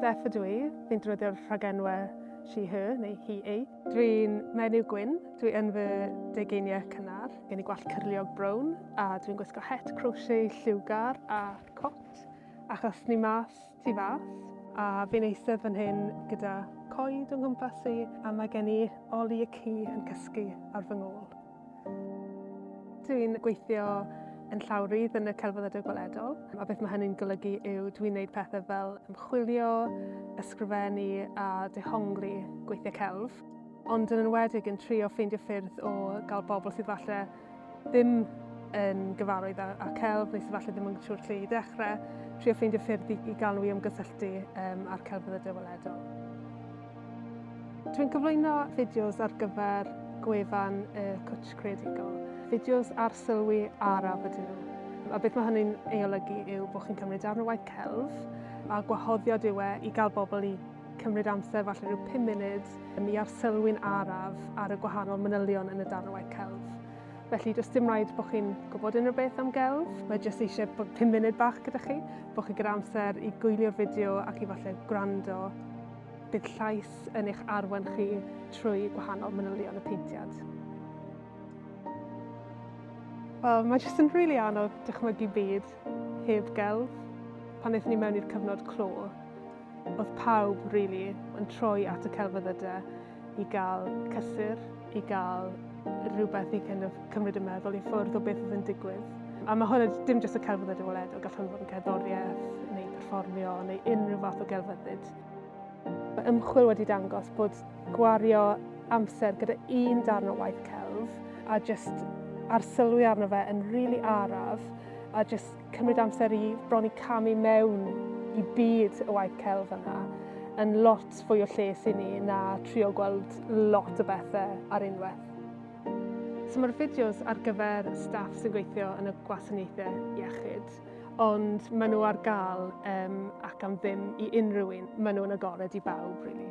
Steph ydw i, fi'n drwyddio'r rhagenwau she, her neu he, ei. Dwi'n menyw gwyn, dwi yn fy degeiniau cynnar, gen i gwallt cyrliog brown a dwi'n gwisgo het crochet lliwgar a cot achos ni mas Tu fas. A fi'n eistedd fan hyn gyda coed o'n nghwmpas i a mae gen i oli y ci yn cysgu ar fy ngôl. Dwi'n gweithio yn llawrydd yn y celfyddydau gweledol a beth mae hynny'n golygu yw dwi'n gwneud pethau fel ymchwilio, ysgrifennu a dehongli gweithiau celf ond yn enwedig yn trio ffeindio ffyrdd o gael bobl sydd falle ddim yn gyfarwydd â, â celf neu sydd falle ddim yn siŵr lle i ddechrau, trio ffeindio ffyrdd i, i galw i ymgysylltu um, â'r celfyddydau weledol. Dwi'n cyflwyno fideos ar gyfer gwefan y Cwtsh Creadigol, fideos ar sylwi araf ydyn nhw. A beth mae hynny'n ei olygu yw bod chi'n cymryd darn o waith celf a gwahoddiad yw e i gael bobl i cymryd amser, falle rhyw 5 munud, i arsylwi'n araf ar y gwahanol manylion yn y darn o waith celf. Felly, does dim rhaid bod chi'n gwybod unrhyw beth am gelf, mae jyst eisiau bod 5 munud bach gyda chi, bod chi gyda amser i gwylio'r fideo ac i falle gwrando. Bydd llais yn eich arwen chi trwy gwahanol manylion y peintiad. Wel, mae jyst yn rili really anodd dychmygu byd heb gelf. Pan eithon ni mewn i'r cyfnod clo, Oedd pawb, rili, yn troi at y celfyddyde i gael cysur, i gael rhywbeth i kind of cymryd y meddwl i ffwrdd o beth oedd yn digwydd. A mae hwn dim jyst y celfyddydau weledol, gall hwn fod yn cerddoriaeth neu perfformio neu unrhyw fath o gelfyddyd. Mae ymchwil wedi dangos bod gwario amser gyda un darn o waith celf a jyst arsylwi arno fe yn rili araf a jyst cymryd amser i bron i camu mewn i byd y waith celf yna yn lot fwy o lles i ni na trio gweld lot o bethau ar unwaith. So mae'r fideos ar gyfer staff sy'n gweithio yn y gwasanaethau iechyd, ond maen nhw ar gael um, ac am ddim i unrhyw un. Maen nhw'n agored i bawb, really.